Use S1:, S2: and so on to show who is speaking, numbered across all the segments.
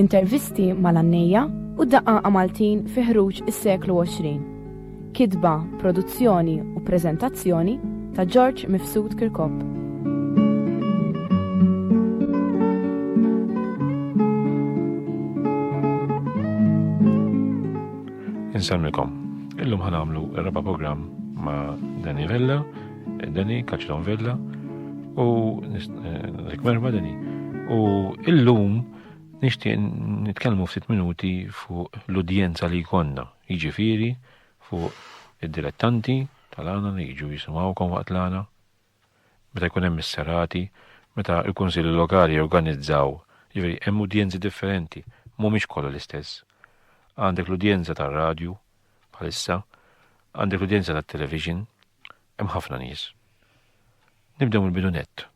S1: Intervisti mal-għannejja u d-daqqaqa Maltin fi ħruġ is-seklu 20. Kitba, produzzjoni u preżentazzjoni ta' George Mifsud Kirkop. Insemmilkom, illum ħanamlu r-raba' programm ma' Danny Vella Deni, Kaċilon Vella, u Rik Merma Deni. U illum nixtieq nitkellmu ftit minuti fuq l-udjenza li jkollna, jiġifieri fuq id-dilettanti tal-għana li jiġu jisimgħukom waqt l-għana, meta jkun hemm is-serati, meta l-kunsilli lokali jorganizzaw, jiġifieri hemm udjenzi differenti, mhumiex kollha l-istess. Għandek l-udjenza tar-radju bħalissa, għandek l-udjenza tat-television, Hemm ħafna nies. Nibdew mill-bidu nett.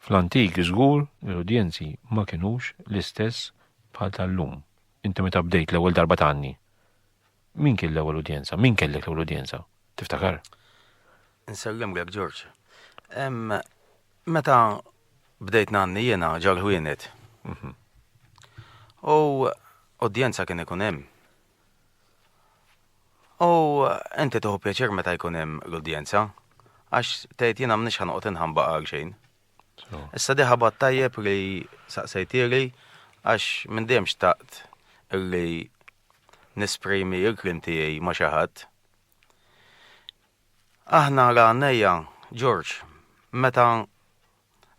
S1: Fl-antik żgur li l-udjenzi ma kinux l-istess bħal tal-lum. Inti meta bdejt l-ewwel darba tgħanni, min kien l-ewwel udjenza? Min kellek l-ewwel udjenza? Tiftakar? Nsellimlek Ġorġ. Meta bdejt ngħanni jiena ġal-ħwienet. Mhm. U udjenza kien ikun hemm. U inti tuħu pjaċir meta jkun hemm l-udjenza, għax tgħid jiena mnix ħanqot inħamba għal xejn. Issa di ħabat tajjeb li saqsejtili għax minn dejjem xtaqt li nisprimi il-klim tiegħi ma' xi ħadd. Aħna għal għannejja, Ġorġ, meta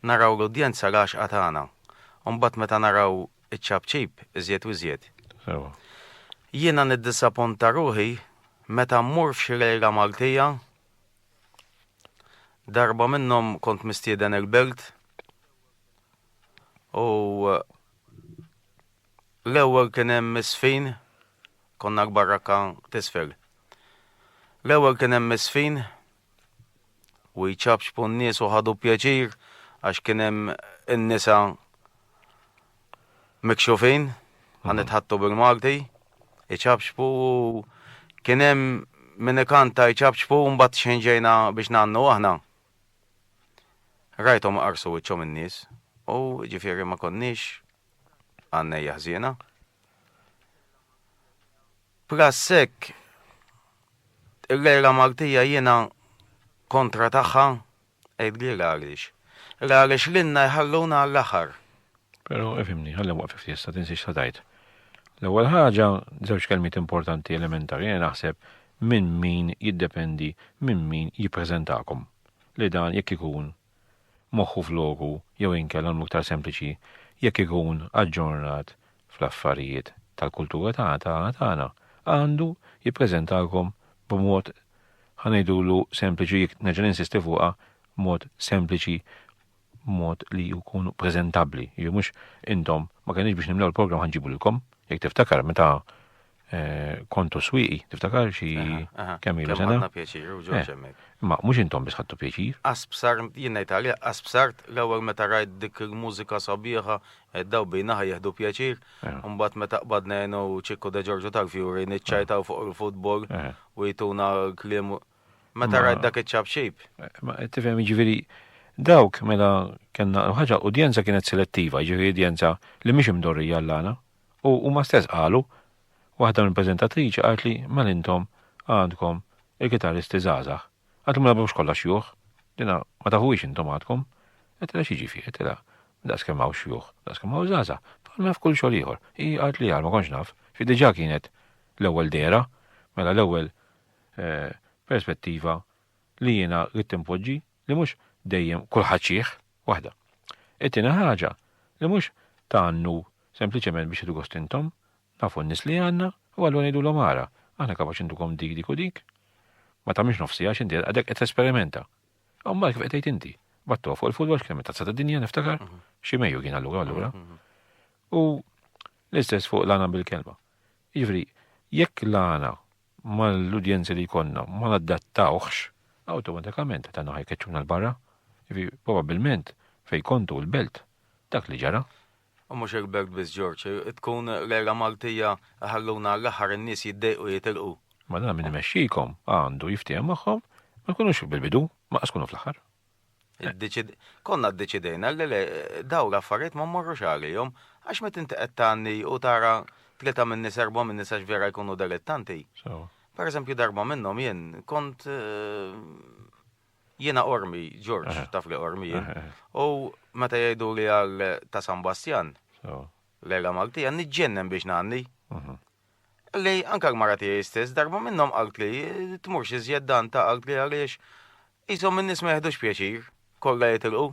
S1: naraw l-udjenza l-għaxqa tagħna, u mbagħad meta naraw iċ-ċapċip iżjed u iżjed. Sewwa. Jiena niddisapponta ruħi meta mmur f'xi lejla Maltija, darba minnhom kont mistieden il-Belt u l-ewwel kien hemm is-sfin, konna l-barrakka t'isfel. L-ewwel kien hemm is-sfin u jċappċpu n-nies u ħadu pjaċir għax kien hemm in-nisa mikxufin, ħan nitħattu bil-Malti, iċappċpu u kien hemm min ikanta jċappċpu u mbagħad xejn ġejna biex nagħnu aħna. Rajthom qarsu wiċċhom in-nies u ġifieri ma konniex għannejja ħżiena. Prassek Il-għira Maltija jiena kontra tagħha, għidli l-għaliex. L-għaliex lilna jħalluna għall-aħħar. Però ifhimni, ħalli nwaqfek ftit sa tinsiex xa tgħid. L-ewwel ħaġa, żewġ kelmiet importanti elementari jiena naħseb minn min jiddependi minn min jippreżentakom li dan jekk ikun moħħu f'loku jew inkella nagħmlu iktar sempliċi jekk ikun aġġornat fl-affarijiet tal-kultura tagħna, għandu jippreżentalkom b'mod, ħa ngħidulu sempliċi, jekk nerġa' ninsisti fuqha, mod sempliċi, mod li jkun preżentabbli. Jiġifieri mhux intom ma kenniex biex nimlew il-programm ħa nġibulkom, jekk tiftakar meta Eh, kontu swiqi, tiftakar xi kemm ilu sena. Għandna pjaċir, u ġoġ eh, Ma mhux intom biss ħadtu pjaċir. Aspsar, jien ngħid għalija, aspsar l-ewwel meta rajt dik il-mużika sabiħa, eh, daw bejna jieħdu pjaċir, mbagħad meta qbadna jenu ċikku de Ġorġu tal-Fjuri niċċajtaw fuq il-futbol u jituna kliem meta rajt dak iċ-ċabxib. Ma tifhem jiġifieri dawk mela kellna ħaġa udjenza kienet selettiva, jiġifieri udjenza li mhix imdorrija l-għana. U huma stess qalu, waħda mill-preżentatriċi qaltli mela intom għandkom il-kitarristi żgħażagħ. Għadhom mela mhux kollha xjuħ, dina ma tafuhiex intom għadkom. Għedtilha xi ġifi, għedtilha daqs kemm hawn xjuħ, daqs kemm hawn żgħażagħ, bħalma f'kull xogħol ieħor. Hi qalt li għal ma kontx naf, xi diġà kienet l-ewwel dehra, mela l-ewwel eh, perspettiva li jiena rid tinpoġġi li mhux dejjem kulħadd xih, waħda. It-tieni ħaġa, li mhux tgħannu sempliċement biex jieħdu gost intom, nafu n-nies li għandna u allura ngħidulhom ara, aħna kapaċi ntukom dik, dik u dik. Ma tagħmilx nofsi għax inti għadek qed tesperimenta. U mbagħad kif qed tgħid inti, battu fuq il-futbol x'kien tazza ta' dinja niftakar, mhm. xi mejju kien allura allura. Mhm, mhm. U l-istess fuq l-għana bil-kelma. Jiġri, jekk l-għana mal-udjenzi li jkollna ma naddattawhx, awtomatikament tagħna ħa jkeċċuna 'l barra. Jiġifieri probabbilment fejn kontu l-belt dak li ġara. U mhux il-belt biss Ġorġ, tkun l-għira Maltija iħalluna għall-aħħar in-nies jiddejqu jitilqu. Mela min imexxikom għandu jiftiehem magħhom, ma tkunux bil-bidu, ma' qas tkunu fl-aħħar. Konna ddeċidejna li le daw l-affarijiet ma mmorrux għalihom għax meta inti qed tgħanni u tara tlieta minn nies erba' minn nies għax vera jkunu delettanti. Per eżempju darba minnhom jien kont eh, jiena ormi, Ġorġ, taf li ormi jien. U meta jgħidu li għal ta' San Bastjan, lejla Maltija, niġġennen biex ngħanni. Qalli anke l-mara tiegħi stess darba minnhom qaltli, Tmurx iżjed Danta, qaltli, għaliex qishom in-nies ma jiħdux pjaċir, kollha jitilqu.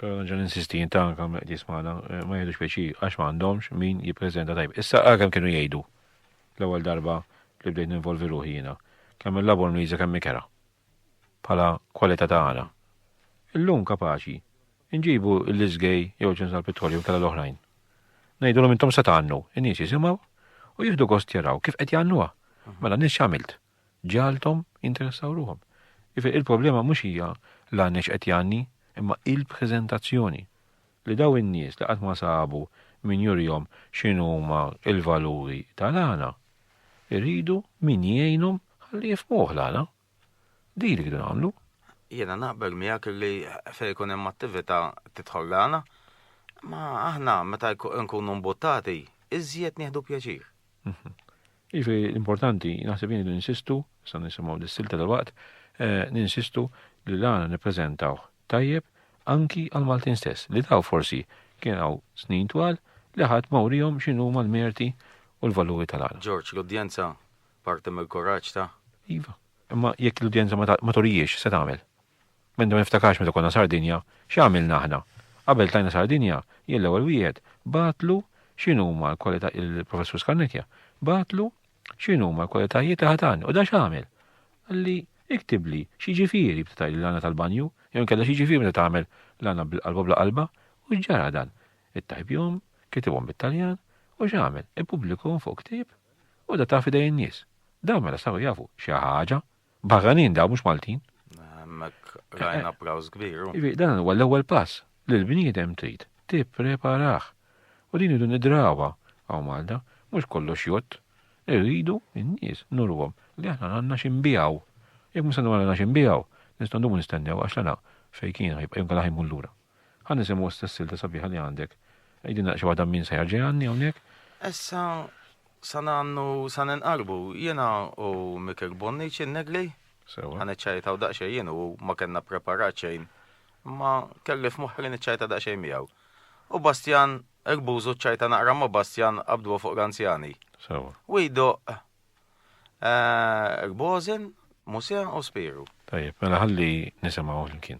S1: Però nerġa' ninsisti, inti anke hawn mill-qdies magħna, ma jiħdux pjaċir għax ma għandhomx min jippreżenta tajjeb. Issa ara kemm kienu jgħidu l-ewwel darba li bdejt ninvolvi ruħi jiena, kemm il-labor mliża kemm ikera, bħala kwalità ta' għana. Illum kapaċi Inġibu l-iżgej jew ġens tal-pittorju inkella l-oħrajn. Ngħidulhom intom se tgħannu, in-nies jisimgħu u jieħdu gost jaraw kif qed jgħannuha. Mela n-nies x'għamilt? Ġalthom jinteressaw ruhom. Ifi il-problema mhux hija l-għanni x'qed jgħanni, imma il-preżentazzjoni. Li dawn in-nies li qatt ma sabu min jurihom x'inhuma l-valuri tal-għana, iridu min jgħinhom ħalli jifhmuh l-għana. Diri li nagħmlu. Jiena naqbel miegħek li fejn ikun hemm attività tidħol l-għana, ma aħna meta nkunu mbuttati, iżjed nieħdu pjaċir. Mhm. Iġri l-importanti, naħseb jien li ninsistu, sa nisimgħu dis-silta tal-waqt, eh, ninsistu li l-għana nippreżentaw tajjeb anki għal Maltin stess, li daw forsi kien għaw snin twal li ħadd mawrijom xinu mal-merti u l-valuri tal-għana. George, l-udjenza Parti mill-kuraġġ ta'. Iva. Imma jekk l-udjenza ma turihiex, x'se tagħmel? M'għandi ma niftakarx meta konna Sardinja, x'għamilna aħna? Qabel tlajna Sardinja, jien l-ewwel wieħed bagħtlu x'inhuma l-kwalità il-Professur Scannecchia bagħtlu x'inhuma l-kwalitajiet li ħatan u da x'għamel? Qalli iktibli x'jiġifieri bda tgħidli l-għana tal-banju, jew inkella x'jiġifieri meta tagħmel l-għana bil-qalba bla qalba u x'ġara dan? Ittajbhom, kitibhom bit-Taljan u x'għamel? Ippubblikhom fuq ktieb? U da ta' fidej in-nies. Dawn mela saru jafu xi ħaġa. Barranin dawn mhux Maltin. Hemmhekk rajna praws kbir. Ivi, dan huwa l-ewwel pass li l-bniedem trid tippreparah. U din idu nidrawha hawn Malta, mhux kollox jgħodd. Irridu n-nies nurwhom li aħna għandna xi nbiegħu. Jekk ma se nagħmlu għandna xi nbiegħu, nistgħu ndumu nistennew għax l-għana fejn kien ħa jibqa' jew inkella ħa jmur lura. Ħa nisimgħu issa s-silta sabiħa li għandek. Għidilna xi waħda minn sejħa ġejgħanni hawnhekk. Issa sa nannu sa ninqarbu jiena u Mikel Bonniċ in-Negli. Sewa. Ħa niċċajtaw daqsxejn jien u ma kellna preparat xejn. Imma kelli f'moħħi li niċċajta daqsxejn miegħu. U Bastjan Erbużu ċċajta naqra ma' Bastjan qabdu fuq l-anzjani. Sewa. U jdoq Erbożin, Musea u Spiru. Tajjeb, mela ħalli nisimgħu flimkien.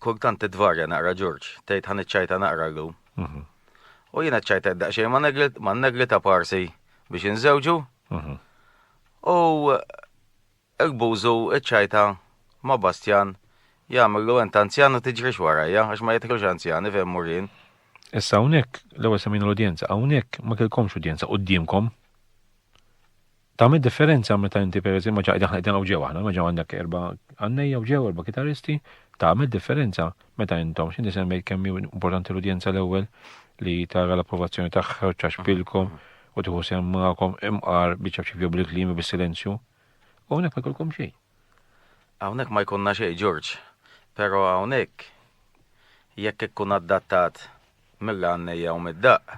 S1: Kultant titvarja naqra Ġorġ, tgħid ħan iċċajta naqra llum. Mhm. U jiena ċċajta daqsxejn ma negli ta' parsi biex inżewġu. Mhm. U il-bużu iċċajta ma' Bastjan jagħmlu ent anzjan u tiġrix warajja għax ma jitħlux anzjani fejn murin. Issa hawnhekk l-ewwel semina l-udjenza, hawnhekk ma kellkomx udjenza qudiemkom. Tagħmel differenza meta inti pereżempju ġa qegħdin qegħdin hawn ġew aħna, ma ġew għandek erba' għannejja u ġew erba' kitaristi, tagħmel differenza meta intom, x'inti semmejt kemm hi importanti l-udjenza l-ewwel li tara l-approvazzjoni tagħha u ċaxpilkom u tieħu sehem magħkom imqar biċċa ċivju bil-kliem bis-silenzju. U hawnhekk ma jkollkom xejn. Hawnhekk ma jkollna xejn, Ġorġ. Però hawnhekk jekk ikkun adattat mill-għannejja u mid-daqq,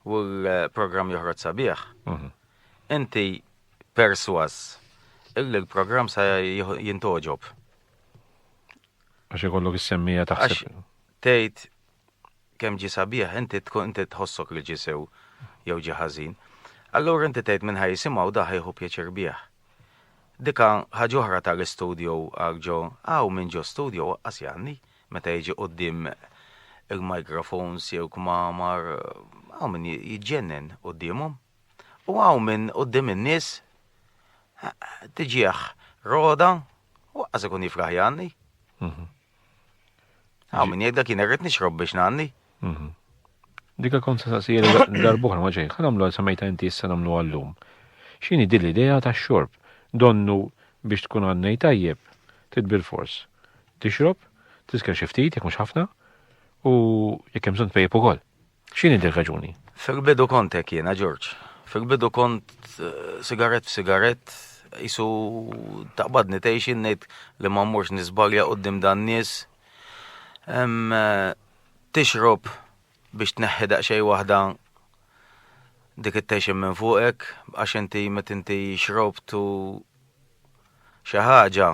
S1: u l-programm joħroġ sabiħ, inti persważ illi l-programm sa jintgħoġob. Għax ikollok is-semmija taħseb. Tgħid kemm ġi sabiħ, inti tkun inti tħossok li ġisew jew ġi ħażin. Allura inti tgħid minn ħaj jisimgħu daħ jieħu pjaċir bih. Dika ħaġa oħra tal-istudju għal ġo, għaw minn ġo studju waqqas janni. Meta jiġi quddiem il-microphones jew kmamar, hawn min jiġġennen quddiemhom. U hawn min quddiem in-nies tiġih roda u aqqas ikun jifraħ jgħanni. Hawn min jgħidlek jien irrid nixrob biex ngħanni. Mhm. Dika kont sa saqsija darbuħra ma ġejn, ħanamlu għal samajta inti issa namlu għallum. Xini din l-idea ta' xorb? Donnu biex tkun għannej tajjeb, tidbil fors. Tixrob, tisker xi ftit jekk mhux ħafna, u jekk hemm bżonn tpejjeb ukoll. X'inhi din raġuni? Fil-bidu kont hekk jiena Ġorġ. Fil-bidu kont eh, sigaret f'sigaret jisu taqbadni tgħix ngħid li ma mmurx nisbalja qudiem dan nies. Eh, tixrob biex tneħħi daqsxejn waħda dik it-tension minn fuqek għax inti meta inti xrobt u xi ħaġa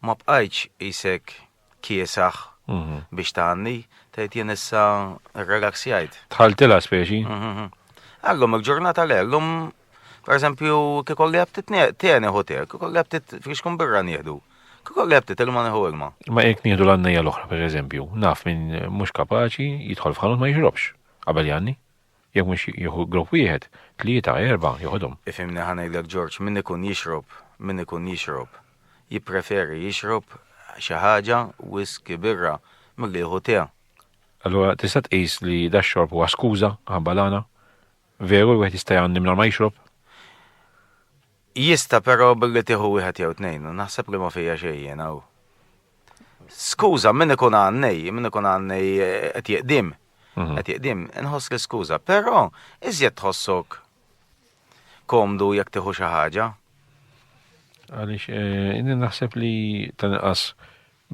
S1: ma bqajtx isek kiesaħ mhm. biex tgħanni, tgħid jien issa relaxjajt. Tħaltilha speċi. Mhm, mhm. Allum il-ġurnata l-ellum Per eżempju, kikolli għabtit tieni hotel, kikolli għabtit fiex kun birra nieħdu. Kikolli għabtit ilma neħu ilma. Ma jek nieħdu l-għannija l-oħra, per eżempju, naf minn mux kapaċi jidħol f'ħanut ma jixrobx qabel janni. Jek mux jieħu grupp wieħed, tlieta, erba, joħodhom. Ifimni ħanejlek Ġorġ, minn ikun jixrob, minn ikun jixrob, jippreferi jixrob xi ħaġa whisky birra milli jieħu tea. Allura tista' tqis li dax-xorb huwa skuża ħabba l-għana Veru li wieħed jista' jgħanni mingħajr ma jixrob? Jista' però billi tieħu wieħed jew tnejn, u naħseb li ma fija xejn jien hawn. Skuża, min ikun għannej, min ikun għannej eh, qed jeqdim. Mhm. Qed jeqdim, inħoss li skuża, però iżjed tħossok komdu jekk tieħu xi ħaġa. Għaliex eh, inni naħseb li tanqas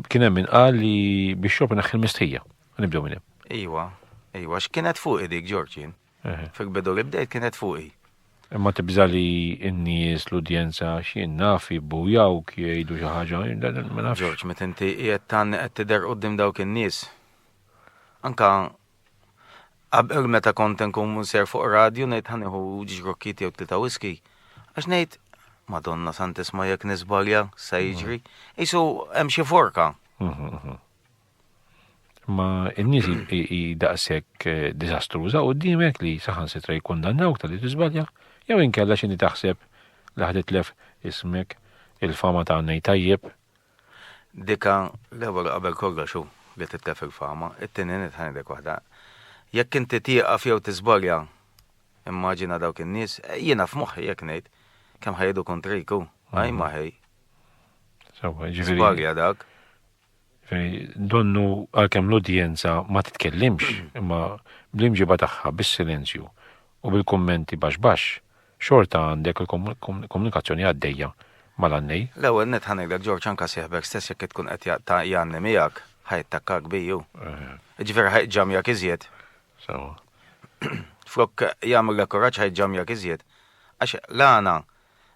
S1: Kien hemm min qal li bixxop inaħħi l-mistħija. Nibdew minn hemm. Iwa, iwa, x'kienet fuqi dik Ġorġin. Fil-bidu li bdejt kienet fuqi. Imma tibża li n-nies l-udjenza x'jien naf jibbujaw jgħidu xi ħaġa, ma nafx. Ġorġ, meta inti qiegħed tan qed tidher quddiem dawk in-nies. Anka Qabel meta kont nkun munser fuq radju ngħid ħa nieħu ġrokkiet jew tlieta whisky, għax ngħid Madonna Santisma jekk nisbalja sa jiġri, isu hemm xi forka. Ma n-nies hi daqshekk eh, diżastruża u dimek li saħan sitra jikkundannawk tal-li tiżbalja, jew inkella x'inhi taħseb li ħaditlef ismek il-fama ta' għannej tajjeb Dika, l-ewwel u qabel kollox hu li titlef il-fama. It-tieni nett ħa ngħidlek waħda. Jekk inti tieqaf jew tiżbalja, immaġina dawk in-nies, jiena f'moħħi hekk ngħid, kemm ħa jgħidu kontrik hu, ħaj ma ħej. Sewwa, ġifieri. Żbalja dak. Donnu għalkemm l-udjenza ma titkellimx, imma bl-imġiba tagħha bis-silenzju u bil-kummenti baxx baxx, Xorta għandek il-komunikazzjoni għaddejja mal-għannej? L-ewwel nett ħa ngħidlek George anke sieħbek stess jekk tkun qed jaqta' jgħanni miegħek, ħa jattakkak bi hu. Jiġifieri ħa jġamjak iżjed. Sewwa. Flok jagħmillek kuraġġ ħa jġamjak iżjed. Għax l-għana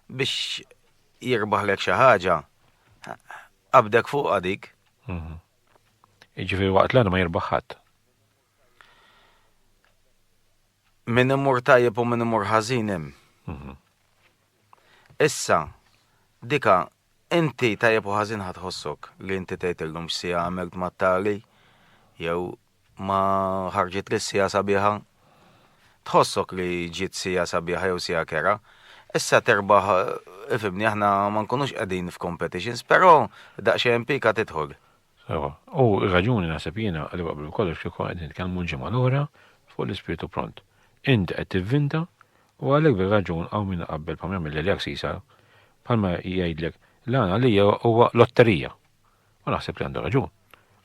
S1: biex jirbaħlek xi ħaġa qabdek fuqha dik. Jiġifieri waqt l-għana ma jirbaħ ħadd. Min imur tajjeb u min imur ħażin hemm. Mhm. Issa, dika, inti tajjeb u ħażin ħadħossok li inti tgħid illum x'sija għamilt mat-tali jew ma ħarġit li sija sabiħa. Tħossok li ġiet sija sabiħa jew sija kera. Issa terbaħ ifimni aħna ma nkunux qegħdin f'competitions, però daqsxejn pika tidħol. Ewa, u r-raġuni naħseb jiena li qabel kollox kieku qed nitkellmu l-ġimgħa l-oħra fuq l-ispirtu pront. Int qed tivvinta u għalhekk bir-raġun hawn min iqabbel bħal ma jagħmel Delia Ksisa bħalma jgħidlek l-għan għalija huwa lotterija. U naħseb li għandu raġun.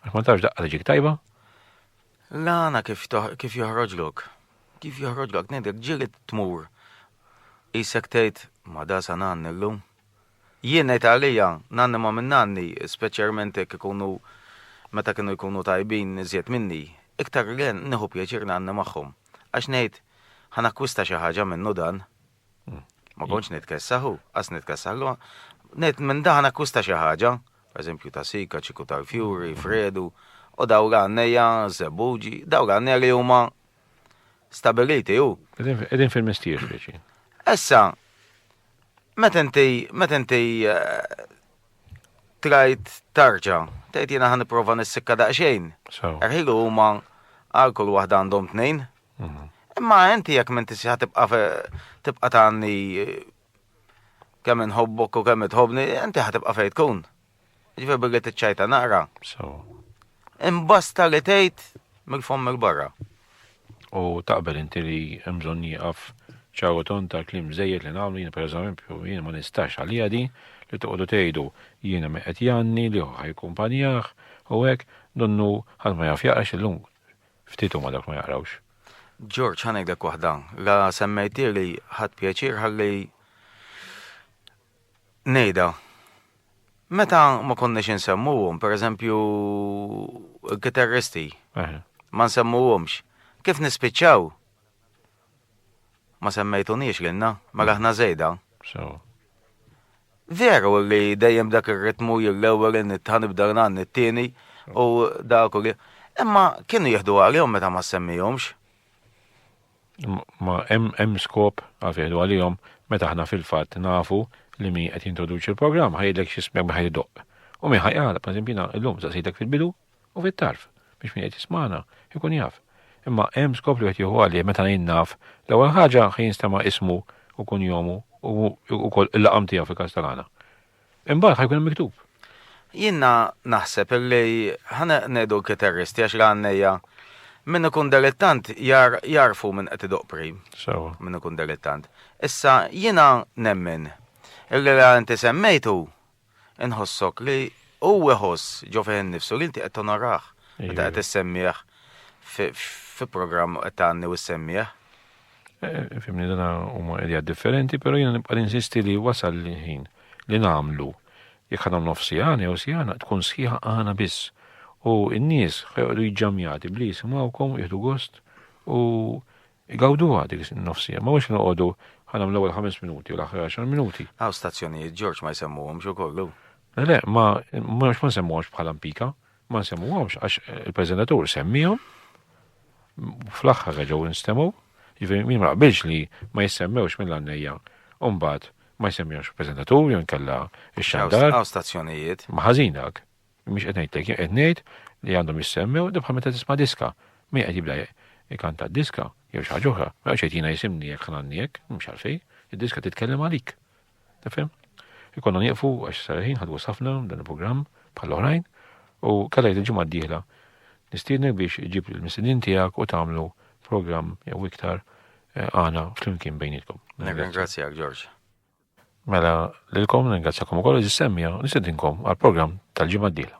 S1: Għax ma tafx daqqa li ġik tajba. L-għana kif kif joħroġlok. Kif joħroġlok ngħidlek ġieli tmur isek tgħid ma da sa ngħanni llum. Jien ngħid għalija, nanni ma minn nanni, speċjarment jekk ikunu meta kienu jkunu tajbin iżjed minni, iktar li nieħu pjaċir nanni magħhom. Għax ngħid, ħa nakkwista xi ħaġa minnu dan. Ma kontx nitkessaħ u qas nitkessaħlu. Ngħid minn da ħa nakkwista xi ħaġa, pereżempju tasika, ċiku tal-fjuri, fredu, u daw l-għannejja, żebbuġi, daw l-għannejja li huma stabiliti u. Qegħdin fil-mistier speċi. Issa, meta inti meta inti eh, trajt tarġa, tgħid jiena ħan nipprova nissikka daqsxejn. Erħilu huma għal kull waħda għandhom tnejn. Mhm. Imma inti jekk minn tisja tibqa' tibqa' tagħni eh, kemm inħobbok u kemm itħobni, inti ħatibqa' fejn tkun. Ġifi bigħet iċċajta naqra. So. Imbasta li tgħid mill-fomm il-barra. U taqbel inti li hemm bżonn jieqaf ċaru ton ta' klim żejjed li nagħmlu jien pereżempju jien ma nistax għalija di li toqgħodu tgħidu jiena me qed janni li ħajkumpanjah u hekk donnu ħadd ma jaf jaqrax illum ftit huma dak ma jaqrawx. Ġorġ ħanejdlek waħda, la semmejtieli ħadd pjaċir ħalli Ngħidha. Meta ma konniex insemmuhom, pereżempju l-kitarristi, ma nsemmuhomx, kif nispiċċaw? Ma semmejtuniex lilna, mela aħna żejda. Veru li dejjem dak ir-ritmu l-ewwel nitħa nibda ngħan it-tieni u dak u li. Imma kienu jieħdu għalihom meta ma ssemmihomx. ma hemm hemm skop għalfejn ngħidu għalihom meta aħna fil-fatt nafu li min qed jintroduċi l-programm ħajidlek xi smek minn ħajt idoqq. U min ħajqala, per eżempju, jiena llum saqsejtek fil-bidu u fit-tarf biex min qed jismana jkun jaf. Imma hemm skop li qed jieħu għalih meta jien naf l-ewwel ħaġa ħajinstema' ismu u kunjomu u wkoll il-laqam tiegħu fil-każ tal-għana. Imbagħad ħajkun hemm miktub. Jiena naħseb li ħaneqnedu l-kiterristi għax l-għannejja min ikun delittant jar jarfu minn qed idoq pri. Sewa. Min ikun delittant. Issa jiena nemmen illi la inti semmejtu inħossok li u iħoss ġo fih innifsu li inti qed tonorah meta qed issemmih fi programm qed tgħanni u ssemmih. Eh, fimni dana huma idea differenti, pero jiena nibqa' insisti li wasal l-ħin li nagħmlu jekk għandhom nof sijana jew sijana tkun sħiħa għana biss. U n-nies ħajqdu jġamjati bli jisimawkom, jihdu gost u jgawdu għadik nofsija. Ma mux noqodu ħanam l-ewwel 5 minuti u l-aħħar 10 minuti. Għaw stazzjonijiet Ġorġ ma jsemmuhom xo kollu. Le, ma mhux ma nsemmuhomx bħala mpika. Ma nsemmuhomx għax il-preżentatur semmiehom fl-aħħar reġgħu instemgħu, jiġifieri min ma qbilx li ma jissemmewx mill-għannejja u mbagħad ma jsemmihomx il-preżentatur jew inkella x-xandar. Hawn stazzjonijiet. Ma ħażin dak. Mhix qed ngħidlek, jien qed ngħid li għandhom jissemmew dibħal meta tisma' diska. Min qed jibda ikanta diska jew xi ħaġa oħra, ma jgħidx jgħidina jisimni jekk ħnanni jekk, mhux għalfej, id-diska titkellem għalik. Nifhem? Ikonna nieqfu għax sarħin ħadwu safna dan il-programm bħal oħrajn u kalajt il-ġimgħa d-dieħla nistiednek biex iġib il-misidin tiegħek u tagħmlu programm jew iktar eh, għana flimkien bejnietkom. Ringrazzjak Ġorġ. Mela lilkom ringrazzjakom ukoll iżis semmija nistedinkom għall-programm tal-ġimgħa d-dieħla.